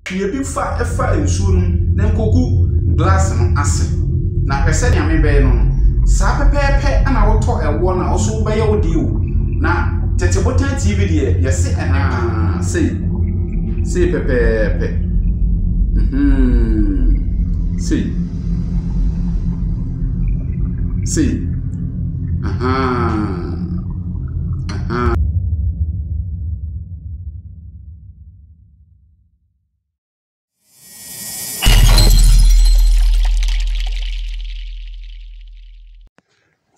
Pue bi fa fa nsuo no mu na kɔ gu glass no ase. Na hwɛ sɛdeɛ me bɛyɛ no no. Saa pɛpɛɛpɛ na wo tɔ ɛwoɔ no a wo nso wo bɛyɛ wo deɛ o. Na tete botan TV deɛ yɛ se ɛne pa. Ahaa sei, sei pɛpɛɛpɛ mm-hmm sei, sei ahaa.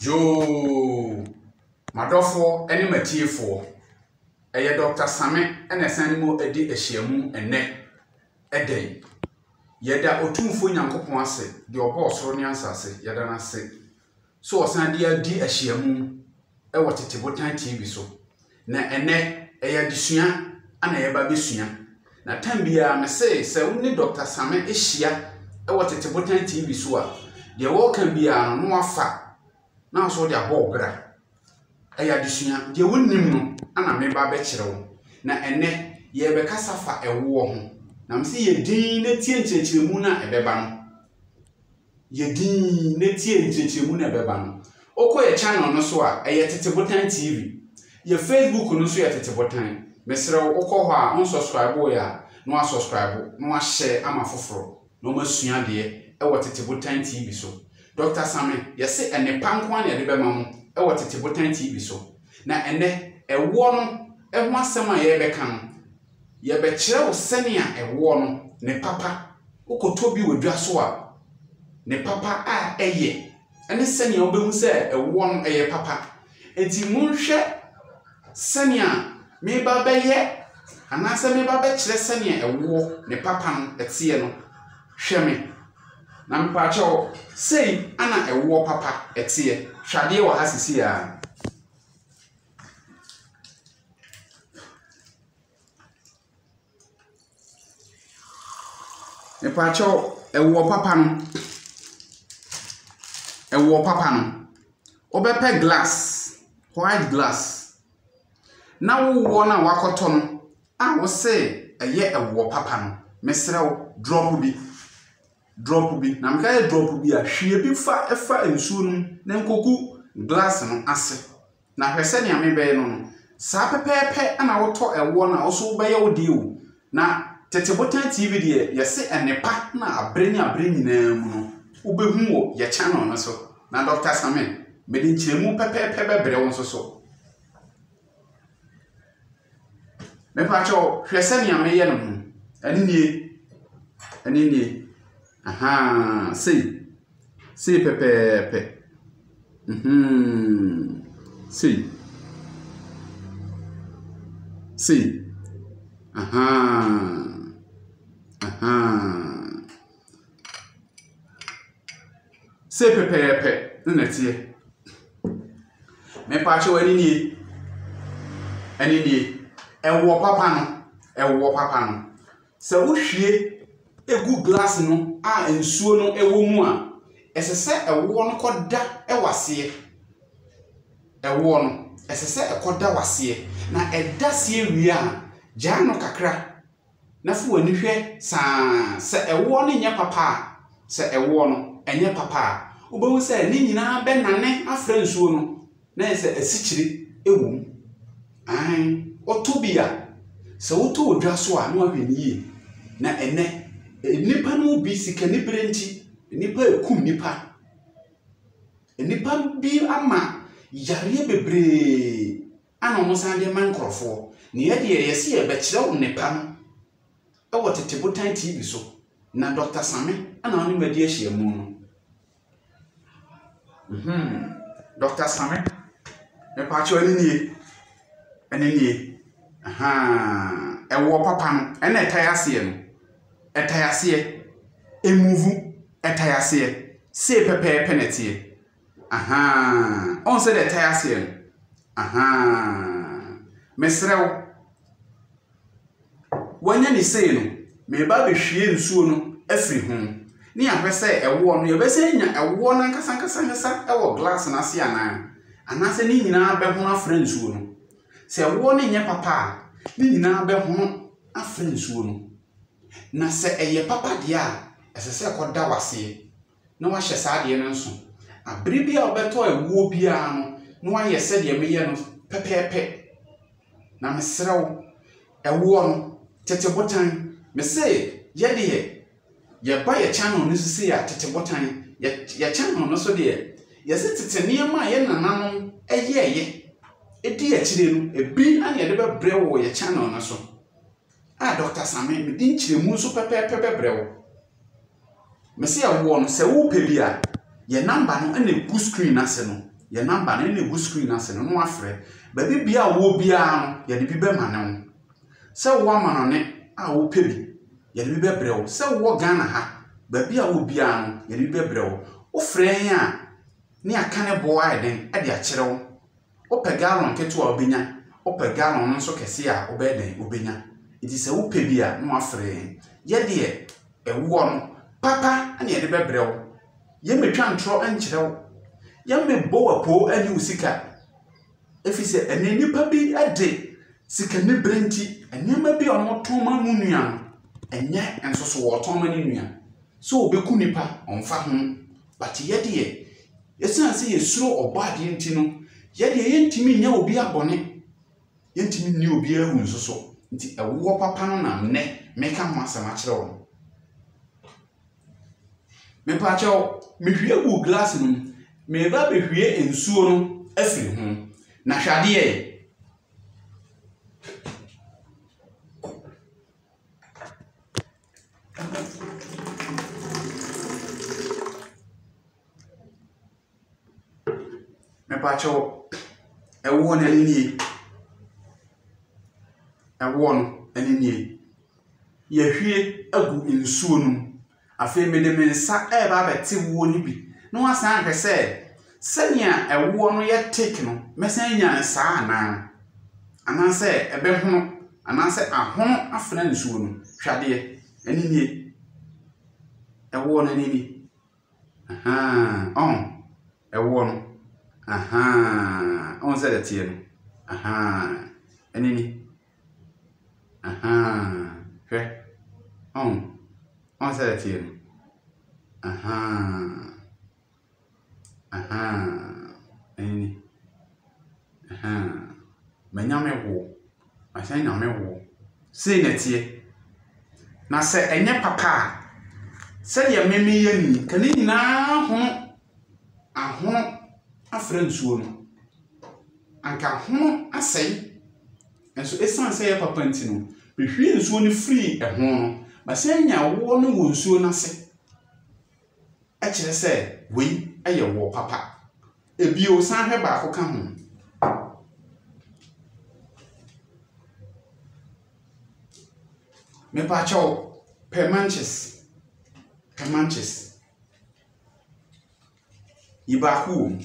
Yoo! M'adɔfoɔ ne m'atiefoɔ, ɛyɛ Dɔkta Same na ɛsan ne mo adi ahyiamu ɛnnɛ. Ɛda yi, yɛda Otumfoɔ Nyankopɔn ase, deɛ ɔbɔɔ soro ne asaase, yɛda no ase. So wɔsan de adi ahyiamu wɔ tete botan TV so, na ɛnnɛ ɛyɛ adesua a na yɛba abɛsua. Na tan biara mese sɛ wo ne Dɔkta Same ahyia wɔ tete botan TV so a, deɛ wɔreka biara no na wafa na nso wode abɔ wo bra. Ɛyɛ adesua, deɛ wonnim no ana meba abɛkyerɛ wo. Na ɛnnɛ yɛrebɛkasa fa ɛwoɔ ho, na mese yɛ din na tie nkyerɛkyerɛmu no a ɛbɛba no. yɛ dinn na tie nkyerɛkyerɛmu na ɛbɛba no. Wokɔ yɛ channel no so a, ɛyɛ Tete Botan TV. Yɛ Facebook no nso yɛ Tete Botan. Mesrɛ wo, wokɔ hɔ a, wonsɔskraiboeɛ a, na woasɔskraibo na woahyɛɛ ama foforɔ na wɔasua adeɛ wɔ Tete Botan TV so. Dɔkta Same, yɛse ɛnnepa nko ara na yɛde bɛma mo wɔ Tete Botan TV so. Na ɛnnɛ, ɛwoɔ no ho asɛm a yɛrebɛka no, Yɛbɛkyerɛ wo sɛnea ɛwoɔ no, ne papa, wokɔtɔ bi wɔ dwa so a, ne papa a ɛyɛ, ne sɛnea wobɛhu sɛ ɛwoɔ no, ɛyɛ papa. Enti monhwɛ sɛnea mereba abɛyɛ anaasɛ mereba abɛkyerɛ sɛnea ɛwoɔ, ne papa no, teɛ no. Hwɛ me, na mepaakyɛ wo, sei na ɛwoɔ papa teɛ. Hwɛ adeɛ wɔ ha seesei ara. Mepakyɛw, ɛwoɔ papa no, ɛwoɔ papa no, wobɛpɛ glass, white glass, na wo woɔ no a woakɔtɔ no a wose ɛyɛ ɛwoɔ papa no, mesrɛ wo, drop bi. Drop bi, na meka sɛ drop bi a, hwie bi fa fa nsuo no mu na nkɔgu glass no ase. Na hwɛ sɛnea mebɛyɛ no no. Saa pɛpɛɛpɛ na wotɔ ɛwoɔ no a, wo nso wobɛyɛ wo deɛ o. Na Tete Botan TV deɛ, yɛse ɛnnepa na abere ne abere nyinaa mu no, wobɛhu wɔ yɛ channel no so. Na Doctor Sameh, mede nkyerɛmu pɛpɛɛpɛ bɛbrɛ wo nso so. Mepakyɛw, hwɛ sɛnea meyɛ no ho. Ɛno nie. Ɛno nie. Ahaa, sei. Sei pɛpɛɛpɛ. Mm-hmm. Sei. Sei. Ahaa. Ahaa. Sei pɛpɛɛpɛ na na ɛteɛ. Me paakye wo, ɛne nie, ɛne nie. Ɛwoɔ papa no, ɛwoɔ papa no, sɛ wohwie gu glass mu a nsuo no wɔ mu a, ɛsɛ sɛ ɛwoɔ no kɔda wo aseɛ. Ɛwoɔ no, ɛsɛ sɛ ɛkɔda wo aseɛ. Na ɛda aseɛ wie a, gyaa no kakra na fa w'ani hwɛ saa sɛ ɛwoɔ no nyɛ papa a, sɛ ɛwoɔ no ɛnyɛ papa a, wobɛhu sɛ ne nyinaa bɛnane afra nsuo no na ayɛ sɛ asikyire wɔ mu. Aane, wotɔ bi a, sɛ wotɔ wɔ dwa so a na wahwɛ no yie. Na ɛnnɛ, nnipa no mu bi sikanibere nti, nnipa rekum nnipa. Nnipa bi ama yareɛ bebree ana wɔsan de rema nkurɔfoɔ, na yɛ deɛ yɛse yɛbɛkyerɛ wo nnepa no wɔ Tete Botan TV so, na Dɔkta Same ana ɔne me adi ahyiamu no. Mhmm, Dɔkta Same, mepaakyɛw ɛno nie, ɛno nie, ahaa, ɛwoɔ papa no, ɛna ɛtae aseɛ no, ɛtae aseɛ, ɛmuvu, ɛtae aseɛ, sei pɛpɛɛpɛ na ɛteɛ, Ahaa ɔhu sɛdeɛ ɛtae aseɛ no ahaa mesrɛ wo wanya ne sei no meba abɛhwie nsuo no afiri ho ne yɛahwɛ sɛ ɛwoɔ no yɛbɛsɛ nya ɛwoɔ no ankasa ankasa ankasa ɛwɔ glass no ase anaa anaasɛ ne nyinaa bɛhono afra nsuo no sɛ ɛwoɔ no nyɛ papa a ne nyinaa bɛhono afra nsuo no na sɛ ɛyɛ papa deɛ a ɛsɛ sɛ ɛkɔda waseɛ na wahyɛ saa adeɛ no nso. Aberɛ bi a wobɛtɔ ɛwoɔ biara no, na wayɛ sɛdeɛ meyɛ no pɛpɛɛpɛ. Na mesrɛ wo, ɛwoɔ no, tete botan, me se yɛ deɛ yɛba yɛ channel no so sei a, tete botan, yɛ, yɛ channel no so deɛ, yɛse tete nneɛma a yɛ nananom yɛɛyɛ ɛdi akyire no, ebi na yɛde bɛbrɛ wo wɔ yɛ channel no so. Ah Doctor Same, mede nkyerɛmu nso pɛpɛɛpɛ bɛbrɛ wo. Mese yɛ woɔ no, sɛ wopɛ bi a, yɛ number no na ɛgu screen no ase no, yɛ number no na ɛgu screen no ase no na wafrɛ. Baabi bia a wowɔ biara no, yɛde bi bɛma ne wo. Sɛ wowɔ amanɔne a wopɛ bi, yɛde bi bɛbrɛ wo. Sɛ wowɔ Ghana ha, baabi a wowɔ biara no, yɛde bi bɛbrɛ wo. Wofrɛ yɛn a, ne yɛaka ne boɔ ayɛ den de akyerɛ wo. Wopɛ gallon ketewa a wobɛnya, wopɛ gallon no nso kɛseɛ a wobɛyɛ dɛn wobɛnya. Nti sɛ wopɛ bi a na wafrɛ yɛn. Yɛ deɛ ɛwoɔ no papa na yɛde bɛbrɛ wo. Yɛmmɛtwa ntorɔ nkyerɛ wo. Yɛmmɛbɔ wo apoo ne wo sika. Ɛfiri sɛ ɛnnɛ nnipa bi de sikaniberɛ nti, nneɛma bi a wɔtɔn ma mu nua no, ɛnyɛ nso so wɔtɔn ma ne nua. Sɛ ɔbɛku nipa, ɔmfa ho. But yɛ deɛ, ɛsiane sɛ yɛsuro ɔbɔ adeɛ nti no, yɛ deɛ yɛntumi nyɛ obiara bɔne, yɛntumi nni obiara awu nso so, nti ɛwoɔ papa no na nnɛ meka ho asɛm akyerɛ wɔn. Mepaakyɛw, mehwie guu glass no mu, mereba abɛhwie nsuo no afiri ho, na hwɛ adeɛ yi. Mepakyɛw, ɛwoɔ no ɛne nie? Ɛwoɔ no ɛne nie? Yɛahwie agu nsuo no mu. Afei mede me nsa reba abɛte woɔ no bi na woasan ahwɛ sɛ Sɛnea ɛwoɔ no yɛ teak no, mɛsan anya no saa anaa? Anaasɛ ɛbɛhono, anaasɛ ahono afena nsuo no? Hwɛ adeɛ! Ɛno nie. Ɛwoɔ no, ɛno ni. Ahaa, ɔho. Ɛwoɔ no. Ahaa, ɔho sɛ ɛteɛ no. Ahaa, ɛno ni. Ahaa, hwɛ. Ɔho, ɔho sɛ ɛteɛ no. Ahaa. Ahaa, ɛnne. Ahaa. M'anyame wo. M'ahyɛn nyame wo. Sei na ɛteɛ. Na sɛ ɛnyɛ papa a, sɛdeɛ me meyɛ no yi, nka ne nyinaa hono ahono afra nsuo no. Anka ahono asɛe. Nanso ɛsiane sɛ ɛyɛ papa nti no, mehwie nsuo no firi ɛho no, m'ahyɛn nya awoɔ no wɔ nsuo no ase. kyerɛ sɛ wei yɛ woɔ papa. Bio, san hwɛ baako ka ho. Mepakyɛw, pɛ manches, pɛ manches. Yi baako wom.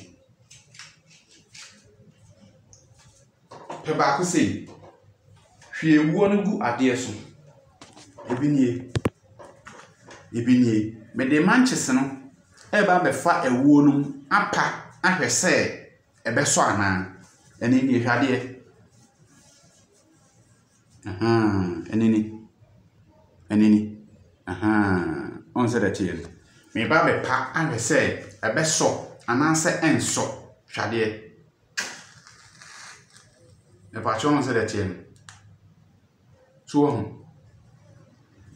Pɛ baako sei. Hwie wuo no gu adeɛ so. Ebi nie. Ebi nie. Mede mankyese no reba abɛfa awuo no mu apa ahwɛ sɛ ɛbɛsɔ anaa. Ɛno nie, hwɛ adeɛ. Ahaa, ɛno ni. Ɛno ni. Ahaa, woahu sɛdeɛ ɛteɛ no. Mereba abɛpa ahwɛ sɛ ɛbɛsɔ anaasɛ ɛrensɔ. Hwɛ adeɛ. Mepakyɛ ɔhu sɛdeɛ ɛteɛ no. So wahu?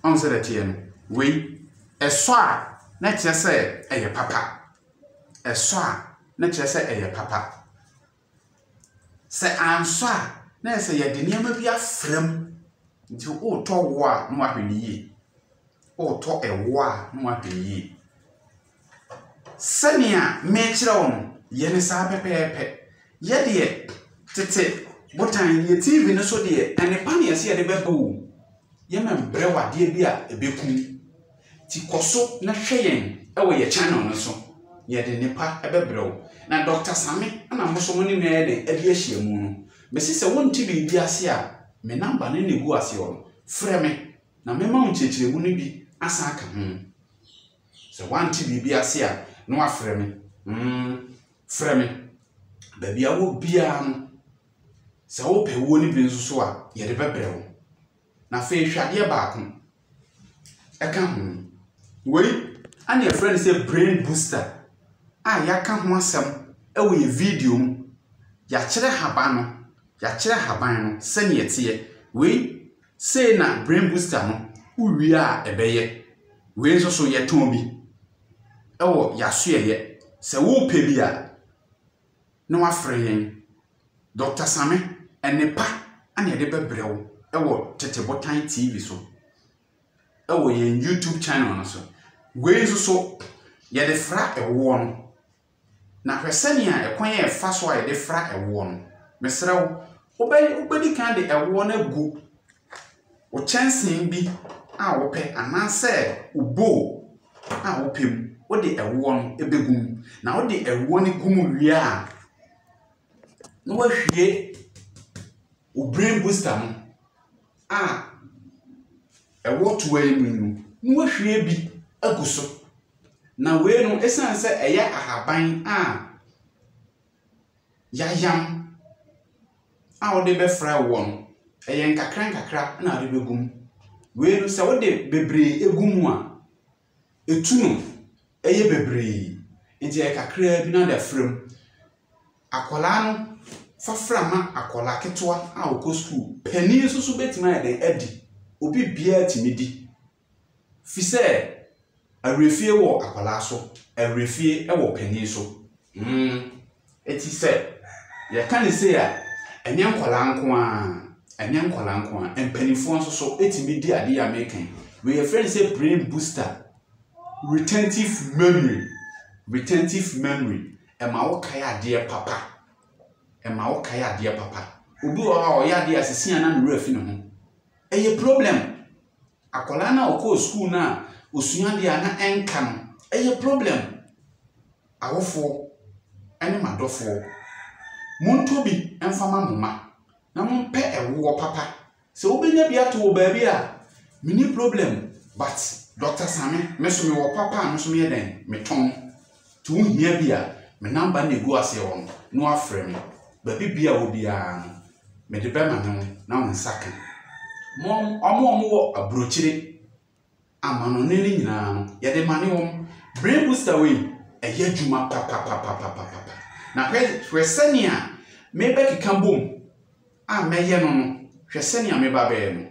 Ɔhu sɛdeɛ ɛteɛ no. Wei ɛsɔ a na kyerɛ sɛ ɛyɛ papa. Ɛsɔ a na kyerɛ sɛ ɛyɛ papa. Sɛ ansɔ a na yɛ sɛ yɛde nneɛma bi afra mu. Nti woretɔ wo a na wahwɛ no yie. Woretɔ ɛwoɔ a na wahwɛ no yie. Sɛnea merekyerɛ wo no, yɛ no saa pɛpɛɛpɛ. Yɛ deɛ tete botan, deɛ TV no so deɛ, nnepa na yɛse yɛde bɛba o. Yɛmmɛbrɛ wo adeɛ bi a ɛbɛku wo. Nti kɔ so na hwɛ yɛn wɔ yɛn channel no so. Yɛde nnepa bɛbrɛ wo. Na Dɔkta Same na mo nso mo ne me ayɛ dɛn adi ahyiamu no. Mese sɛ wonte biribi ase a, me number no na ɛgu ase hɔ no, frɛ me na mɛma wo nkyerɛkyerɛmu no bi asan aka ho. Sɛ woante biribi ase a, na wafrɛ me. Mm, frɛ me. Baabi a wɔ biara no, sɛ wopɛ wuo no bi nso so a, yɛde bɛbrɛ wo. Na afei hwɛ adeɛ baako. Ɛka ho. Wei, ɛna yɛfrɛ no sɛ brain booster a yɛaka ho asɛm wɔ yɛ video mu. Yɛakyerɛ haban no, yɛakyerɛ haban no sɛnea ɛteɛ. Wei, Sei na brain booster no wo wie a ɛbɛyɛ. Wei nso so yɛtɔn bi wɔ yasoɛyɛ sɛ wo pɛ bi a na wafrɛ yɛn. Doctor Same ɛnne pa na yɛde bɛbrɛ wo wɔ Tete Botan TV so wɔ yɛn YouTube channel no so. Wei nso so yɛde fra ɛwoɔ no. Na hwɛ sɛnea ɛkwan a ɛfa so a yɛde fra ɛwoɔ no, mesrɛ wo, wobɛdi kan de ɛwoɔ no agu wo kyɛnsee bi a wopɛ anaasɛ wo bowl a wopɛ mu. Wode ɛwoɔ no bɛgu mu, na wode ɛwoɔ no gu mu wie a, na wahwie wo brain booster no a ɛwɔ toa yi mu no, na wahwie bi agu so. Na wei no, esiane sɛ ɛyɛ ahaban a yɛayam a wode bɛfra woɔ no, ɛyɛ nkakrankakra na wode bɛgu mu. Wei no, sɛ wode bebree gu mu a, ɛtu no yɛ bebree. Nti ɛyɛ kakraa bi na wode afra mu. Akwadaa no, fa fra ma akwadaa ketewa a ɔkɔ sukuu. Panin nso so bɛtumi ayɛ dɛn? Adi. Obi biara tumi di. Fi sɛ awerɛfie wɔ akwadaa so, awerɛfie wɔ panin so. Mm. Eti sɛ yɛka ne sei a, ɛnyɛ nkwadaa nko ara, ɛnyɛ nkwadaa nko ara, mpanimfoɔ nso so tumi di adeɛ a meka yi. Wei yɛfrɛ no sɛ brain booster, retentive memory, retentive memory. Ɛma wokae adeɛ papa, ɛma wokae adeɛ papa. Obi wɔ hɔ a ɔyɛ adeɛ a seesei a na ne werɛ afi ne ho. Ɛyɛ problem. Akwadaa no a ɔkɔɔ sukuu no a ɔsua adeɛ a na ɛnka no, ɛyɛ problem. Awofoɔ ne m'adɔfoɔ, montɔ bi mfa ma mo mma na mompɛ ɛwoɔ papa. Sɛ wobɛnya bi ato wɔ baabi a, menni problem but Dɔkta Same, me nso mewɔ papa a me nso meyɛ dɛn, metɔn. To wo hia bi a, me namba na egu aseɛ hɔ no na wafrɛ me. Baabi bia wɔ biara no, mede bɛma ne wo na wo nsa ka. Wɔn a wɔwɔ aburokyire, amanɔne no nyinaa no, yɛde ma ne wɔn. Brain booster wei, ɛyɛ adwuma papapapapapa. Na hwɛ hwɛ sɛnea mebɛkeka bom a mɛyɛ no no, hwɛ sɛnea meba bɛyɛ no.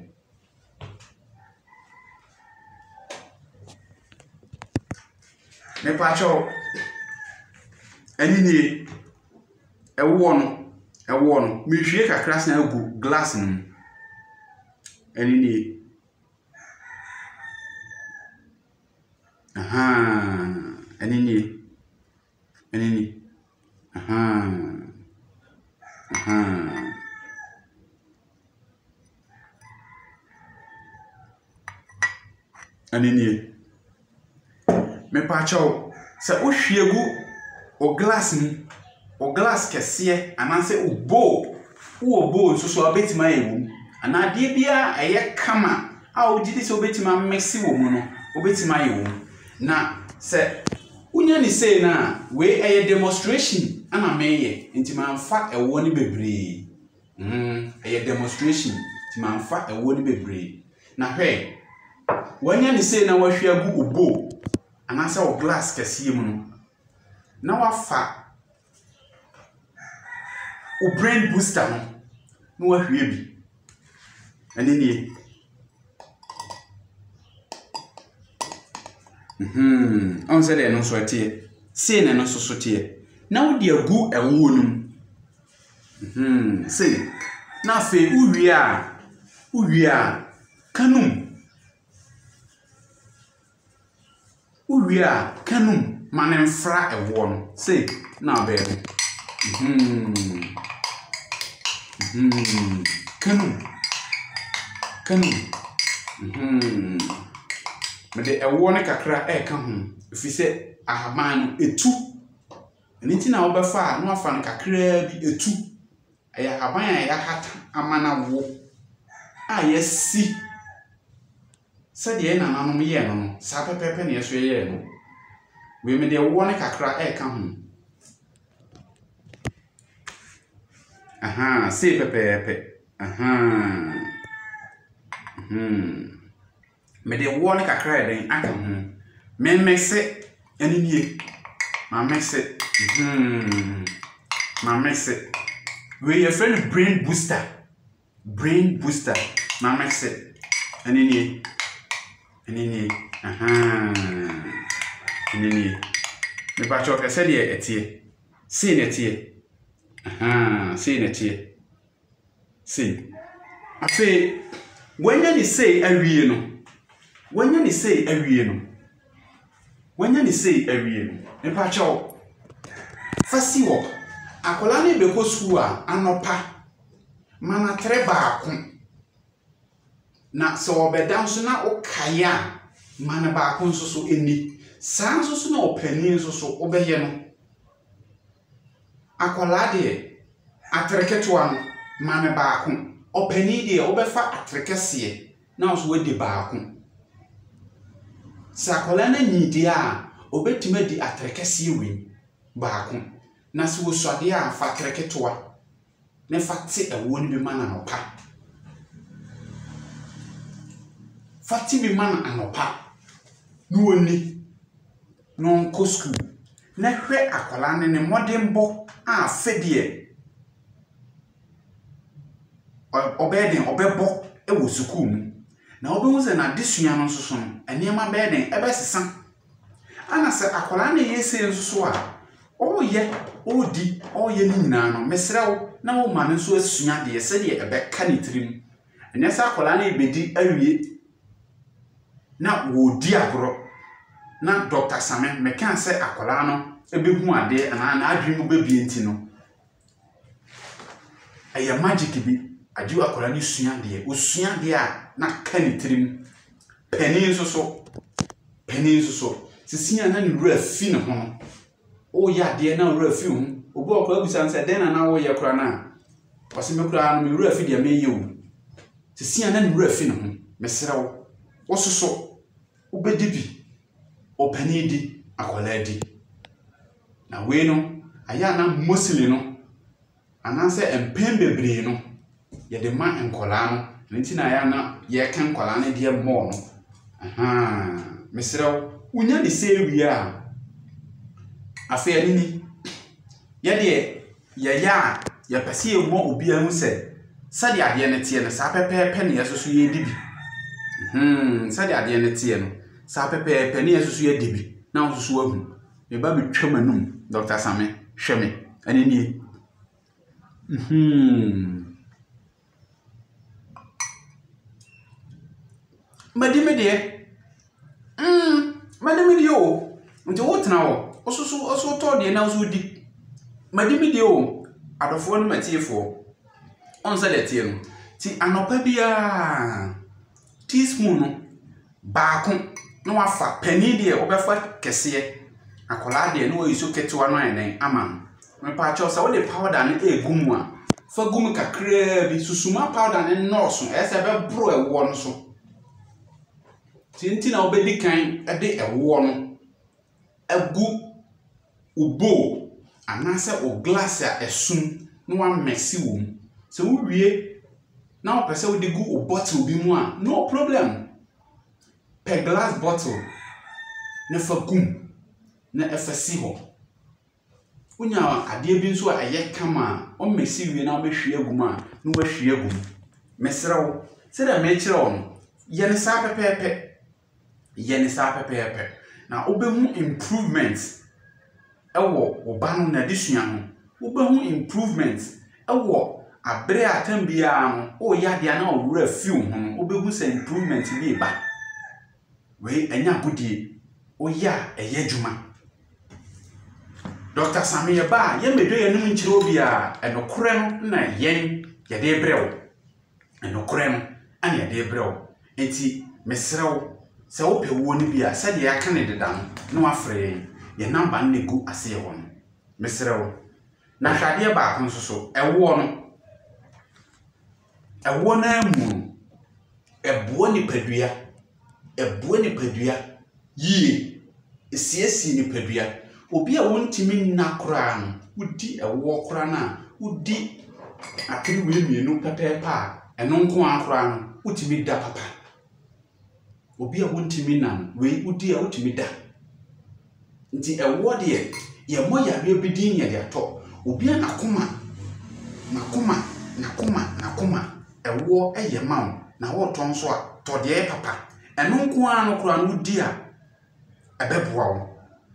Mepakyɛw, ɛno nie, ɛwoɔ no, ɛwoɔ no, mehwie kakra san gu glass no mu. Ɛno nie. Ahaa, ɛno nie. Ɛno ni. Ahaa. Ahaa. Ɛno nie. Mepa wo kyɛw, sɛ wohwie gu wo glass mu, wo glass kɛseɛ anaasɛ wo bowl, wowɔ bowl nso so a, wobɛtumi ayɛ wom anaa adeɛ biara a ɛyɛ kama a wogye di sɛ wobɛtumi amese wɔ mu no, wobɛtumi ayɛ wom. Na sɛ . Wonya no sei no a, wei ɛyɛ demonstration na meyɛ nti manfa ɛwoɔ no bebree. Mm, ɛyɛ demonstration nti manfa ɛwoɔ no bebree. Na hwɛ, wanya no sei na wahwie agu wo bowl anaasɛ wo glass kɛseɛ mu no, na wafa wo brain booster no na wahwie bi ɛne nie mhm. ɔn sɛ deɛ ɛno nso ɛteɛ sei na ɛno nso so teɛ na wode agu ɛwoɔ no mu mhm. sei na afei wowie a wowie a kanum Wowie a, ka no mu ma no mfra ɛwoɔ no. Sei na abɛyɛ no. Mm-hmm. Mm-hmm. Ka no mu. Ka no mu. Mm-hmm. Mede ɛwoɔ no kakra ɛreka ho. Ɛfiri sɛ ahaban no, ɛtu. Ɛno nti na wobɛfa a na wafa no kakraa bi ɛtu. Ɛyɛ ahaban a yɛahata ama no awo a yɛasi Sɛdeɛ yɛ nananom yɛɛ no no, saa pɛpɛɛpɛ na yɛ nso yɛyɛɛ no. Wei mede ɛwoɔ no kakra reka ho. Ahaa, sei pɛpɛɛpɛ. Ahaa. Hmm. Mede ɛwoɔ no kakra ayɛ dɛn aka ho. Memmese, ɛne nie. Mamese, hmm. Mamese. Wei yɛfrɛ no brain booster. Brain booster. Ma mɛse. Ɛne nie. Ɛne nie. Ɛne nie. Mepakyɛ ɔhwɛ sɛdeɛ ɛteɛ. Sei na ɛteɛ. Sei na ɛteɛ. Sei. Afei, wanya ne sei awie no, wanya ne sei awie no, Wanya ne sei awie no mepakyɛw fa si hɔ. Akwadaa no rebɛkɔ sukuu a, anɔpa ma no atere baako, na sɛ ɔrebɛda nso na wokae a, ma no baako nso so nni. Saa ara nso na ɔpanin nso so wobɛyɛ no. Akwadaa deɛ, atere ketewa no, ma no baako. Ɔpanin deɛ, wobɛfa atere kɛseɛ na wo nso woadi baako. Sɛ akwadaa no anyin deɛ a, ɔbɛtumi adi atere kɛseɛ wei baako, na sɛ ɔsua deɛ a, fa atere ketewa na fa te ɛwoɔ no bi ma no anɔpa. Fa te bi ma no anɔpa na ɔnni na ɔnkɔ sukuu na hwɛ akwadaa no ne mmɔdenbɔ a sɛdeɛ ɔbɛyɛ dɛn, ɔbɛbɔ wɔ sukuu mu. Na wobɛhu sɛ n'adesua no nso so no, nneɛma bɛyɛ dɛn, ɛbɛsesa. Ana sɛ akwadaa na ɛyɛ sei nso so a, ɔreyɛ, ɔredi, ɔreyɛ ne nyinaa no, mesrɛ wo na woma no nso asua adeɛ sɛdeɛ ɛbɛka ne tirim. Ɛnyɛ sɛ akwadaa no rebɛdi awie na wɔredi agorɔ na Dɔkta Same mɛka sɛ akwadaa no bɛhu adeɛ anaa n'adwene mu bɛbue nti no, Ɛyɛ magic bi. Agyeo akwadaa no sua adeɛ. Ɔsua adeɛ a, na aka ne tirim. Panin nso so, panin nso so, seesei a na ne werɛ afi ne ho no, ɔreyɛ adeɛ na ne werɛ afi wo ho. Obu a akwadaa bisa no sɛ, dɛn na na woreyɛ koraa no a, ɔse, me koraa no, me werɛ afi deɛ mereyɛ o. Seesei a na ne werɛ afi ne ho. Mesrɛ wo, wo nso so, Wobɛdi bi, ɔpanin di, akwadaa di. Na wei no, ayɛ a na mostly no, anaasɛ mpɛn bebree no, yɛde ma nkwadaa no. Ɛno nti na ayɛ a na yɛka nkwadaa no deɛ more no. Ahaa, mesrɛ wo, wonya ne sei wie a, afei ɛno ni, yɛdeɛ Yɛyɛ a, yɛpɛ sɛ yɛma obiara hu sɛ, sɛdeɛ adeɛ no teɛ no, saa pɛpɛɛpɛ na yɛn nso so yɛredi bi. Hmm, sɛdeɛ adeɛ no teɛ no, saa pɛpɛɛpɛ na yɛn nso so yɛadi bi, na wo nso so ahu. Me ba metwa m'anum, Dɔkta Same, hwɛ me, ɛno nie. Hmm. Madi me deɛ. Madi me deɛ o. Nti wotena hɔ. Wo nso so wo so wotɔ deɛ na wo nso wodi. Madi me deɛ o. Adɔfoɔ ne m'atiefoɔ. Woahu sɛdeɛ ɛteɛ no. Nti anɔpa biara. Teaspoon no, baako na wafa. Panin deɛ wobɛfa kɛseɛ. Akwadaa deɛ na wayusu ketewa no ayɛ dɛn ama no. Mepaakyɛw sɛ wode powder no regu mu a, fa gu mu kakraa bi. Susu ma powder no nnɔɔso. Ɛyɛ sɛ ɛbɛboro ɛwoɔ no so. Nti nti na wobɛdi kan de ɛwoɔ no. agu wo bowl anaasɛ wo glass a ɛsom na woamɛse wɔ mu. Sɛ wowie na wopɛ sɛ wode gu wo bottle bi mu a, no problem. Pɛ glass bottle na fa gu mu na fa si hɔ. Wonya adeɛ bi nso a ɛyɛ kama a, womɛse wie na wobɛhwie agu mu a, na woahwie agu mu. Mesrɛ wo, sɛdeɛ merekyerɛ wo no, yɛ no saa pɛpɛɛpɛ. Yɛ no saa pɛpɛɛpɛ na wobɛhu improvement wɔ wo ba no n'adesua ho. Wobɛhu improvement wɔ abere a tam biara no woyɛ adeɛ a na wo werɛ fi wo ho no, wobɛhu sɛ improvement bi reba. Wei ɛnyɛ agodie. Woyɛ a ɛyɛ adwuma. Dɔkta Same yɛba a yɛmmɛdwa yɛn anom nkyerɛ obiara. Ɛnokorɛ no na yɛn yɛde rebrɛ wo. nokorɛ no na yɛde rebrɛ wo, enti mesrɛ wo, sɛ wopɛ wuo no bi a, sɛdeɛ yɛaka no deda no, na woafrɛ yɛn, yɛn namba no na ɛgu aseɛ hɔ no. Mesrɛ wo. Na hwɛ adeɛ baako nso so, ɛwoɔ no, ɛwoɔ no ara mu no, ɛboa nipadua. ɛboa nipadua yie, ɛsiesie nipadua. Obi a ɔntumi nna koraa no, wodi ɛwoɔ koraa no a, wodi atene wei mmienu pɛpɛɛpɛ a, ɛno nko ara koraa no, wotumi da papa. Obi a ɔntumi nna no, wei wodi a wotumi da. Nti ɛwoɔ deɛ yɛmmɔ yareɛ bi din yɛde atɔ obia nakoma Nakoma nakoma nakoma ɛwoɔ yɛ ma wo na wotɔ nso a tɔ deɛ ɛyɛ papa ɛno nko ara no koraa no wodi a ɛbɛboa wo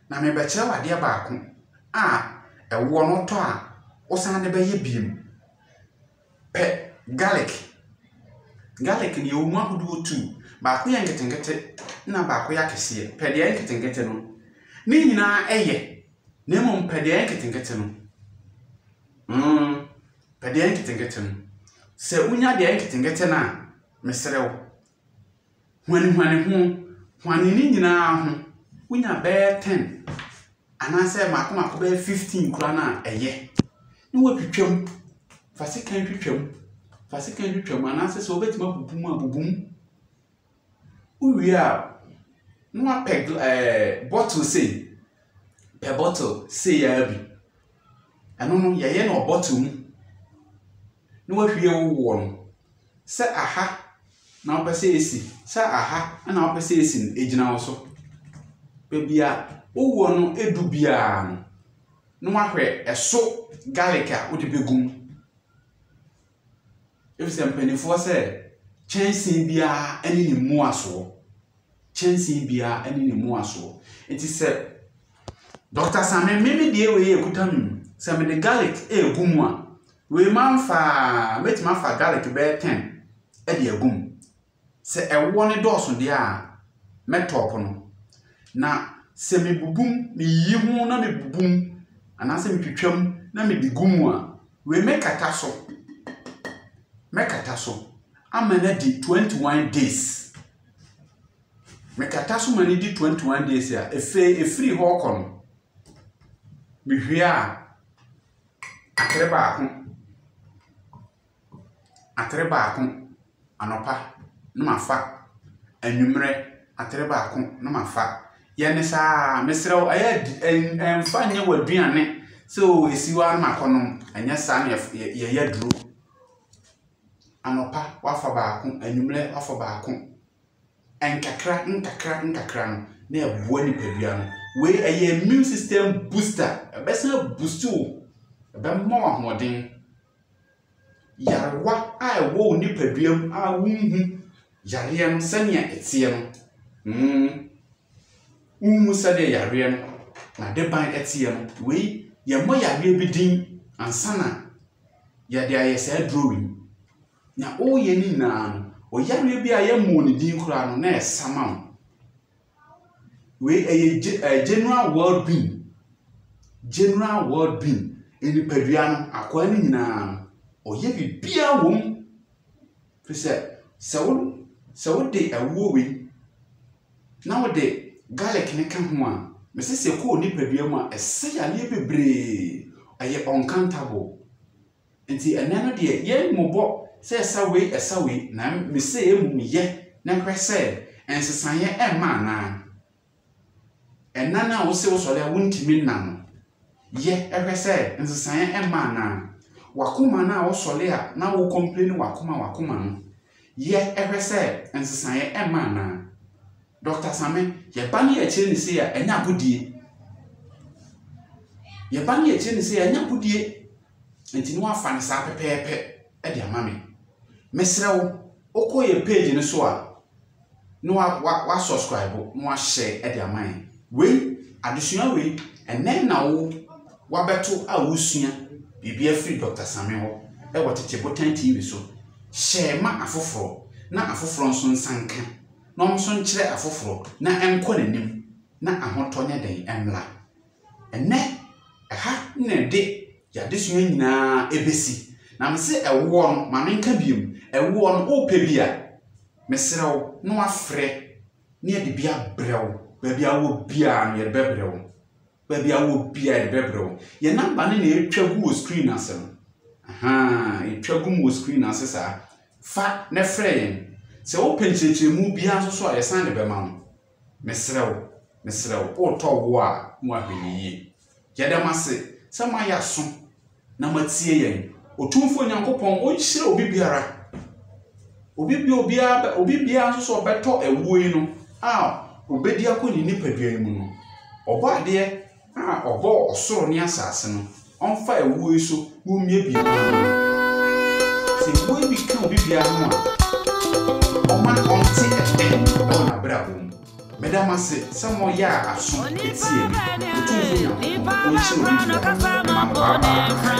Na merebɛkyerɛ wo adeɛ baako a ɛwoɔ no wotɔ a wosan de bɛyɛ biom Pɛ garlic. Garlic no yɛwɔ mu ahodoɔ tu. Baako yɛ nketenkete na baako yɛ akɛseɛ. Pɛ deɛ ɛyɛ nketenkete no. Ne nyinaa ɛyɛ na mmom pɛ deɛ ɛyɛ nketenkete no. Mm, pɛ deɛ ɛyɛ nketenkete no. Sɛ wonya deɛ ɛyɛ nketenkete no a, mesrɛ wo. Huanhuan ho, huane ne nyinaa ho, wonya bɛyɛ ten anaasɛ mmaako mmaako bɛyɛ fifteen koraa no a, ɛyɛ. Na woatwitwam, fa sekan twitwam, fa sekan twitwam anaasɛ sɛ wobɛtumi abubu mu a, bubu mu. Wowie a, na woapɛ gla ɛɛ eh, bottle sei, pɛ bottle sei ara bi. Ɛno no, yɛyɛ no wɔ bottle mu. na wahwie wo woɔ no, sɛ aha na wopɛ sɛ ɛsi, sɛ aha na wopɛ sɛ ɛsi no, ɛgyina wo so. Baabi a wo woɔ no du biara no, na wahwɛ ɛso garlic a wode bɛgu mu. Efisɛ mpanimfoɔ sɛ kyɛnsee biara ne ne mmuasoɔ. Kyɛnsee biara ne ne mmuasoɔ. Nti sɛ Dɔkta Same me me deɛ wei ekuta me mu. Sɛ mede garlic egu mu a, Wei mamfa a, mɛtumi afa garlic bɛyɛ 10 de agu mu. Sɛ ɛwoɔ no dɔɔso deɛ a, mɛtɔɔpo no. Na sɛ mebubu mu, meyiyi ho na mebubu mu anaasɛ metwitwa mu na mede gu mu a, wei mɛkata so. Mɛkata so ama no adi 21 days. Mekata so ma no di 21 days a, ɛfei ɛfiri hɔ kɔ no, mehwie a, Atere baako, atere baako anɔpa na mafa, anwummerɛ atere baako na mafa. Yɛ no saa ara, mesrɛ wo, ɛyɛ di ɛn ɛmfa nyɛ w'aduane sɛ oo ɛsi hɔ ara na makɔnom. Ɛnyɛ saa na yɛf yɛ yɛyɛ aduro. Anɔpa woafa baako, anwummerɛ woafa baako. Nkakra nkakra nkakra no na ɛboa nipadua no. Wei ɛyɛ immune system booster. Ɛbɛsan abuusti wo. Ɛbɛma wo ahoɔden. Yarewa a ɛwɔ wo nipadua mu a wonhu yareɛ no sɛnea ɛteɛ no. Mm. Wonhu sɛdeɛ yareɛ no n'adeban teɛ no. Wei yɛmmɔ yareɛ bi din ansa na yɛde ayɛ saa aduro wei. Nea ɔreyɛ no nyinaa no, ɔyareɛ bi a yɛmmɔɔ ne din koraa no, na ɛyɛ samam. Wei ɛyɛ gye ɛɛ general world bean. General world bean. Nipadua no, akwaa no nyinaa no, ɔyɛ biribiara wɔ mu. Firi sɛ, sɛ wo sɛ wode ɛwoɔ wei na wode garlic no ka ho a, mese sɛ ɛkɔ wo nipadua mu a, ɛsɛ yareɛ bebree. Ɛyɛ uncountable. Nti ɛnnɛ no deɛ yɛn mmobɔ sɛ ɛsa wei ɛsa wei na me se mmom yɛ na hwɛ sɛ nsesaeɛ ɛmma anaa. Ɛna no a wo se wo sɔre a wo ntumi nna no, yɛ hwɛ sɛ nsesaeɛ ɛmma anaa. W'akoma no a wo sɔre a na wo complaini w'akoma w'akoma no, yɛ hwɛ sɛ nsesaeɛ ɛmma anaa. Doctor Same, yɛ ba no yɛ kyerɛ ne sei a ɛnyɛ agodie. Yɛ ba no yɛ kyerɛ ne sei a ɛnyɛ agodie. Nti na wafa no saa pɛpɛɛpɛ de ama me. Mesrɛ wo, wokɔ yɛn page no so a, na wa wa wa subscribe na wahyɛ de ama yɛn. Wei, adesua wei, ɛnɛ na wo wabɛto a wosua biribi afiri Dr. Same hɔ ɛwɔ Tete Botan TV so. Hyɛ ma afoforɔ na afoforɔ nso nsa nka na wɔn nso nkyerɛ afoforɔ na ɛnkɔ n'anim na ahotɔ ne dɛn mmra. Ɛnnɛ, ɛha na ɛde yɛn adesua nyinaa besi. Na mese ɛwoɔ no, ma menka biom, ɛwoɔ no, wopɛ bi a, mesrɛ wo na woafrɛ na yɛde bi abrɛ wo. Baabi a wowɔ biara no, yɛde bɛbrɛ wo. Baabi a wowɔ biara, yɛde bɛbrɛ wo. Yɛn namba no na ɛretwa gu wɔ screen ase no. Ahaa, ɛtwa gu mu wɔ screen ase saa. Fa na frɛ yɛn. Sɛ wopɛ nkyerɛkyerɛmu biara nso so a, yɛsan de bɛma wo. Mesrɛ wo, mesrɛ wo, O tɔ wo a mu ahwɛyie, yɛda mo ase sɛ moayɛ aso na moatie yɛn. Otumfoɔ Nyankopɔn ɔnhyira obi biara, obi bi obiara bɛ, obi biara nso sɛ ɔbɛtɔ awuo yi no a ɔbɛdi akɔ ne nipadua yi mu no, Ɔbɔadeɛ A ɔbɔɔ ɔsoro ne asase no, ɔmfa ɛwoɔ yi so wommiebie kwan no ano. Sɛ ɛwoɔ yi bi ka obi biara ho a, ɔma ɔnte ɛpɛn wɔ n'abrabɔ mu. Meda mo ase sɛ moyaa aso tiee me, Otumfoɔ Nyankopɔn, ɔnhyira obi biara. Mma no baabaa.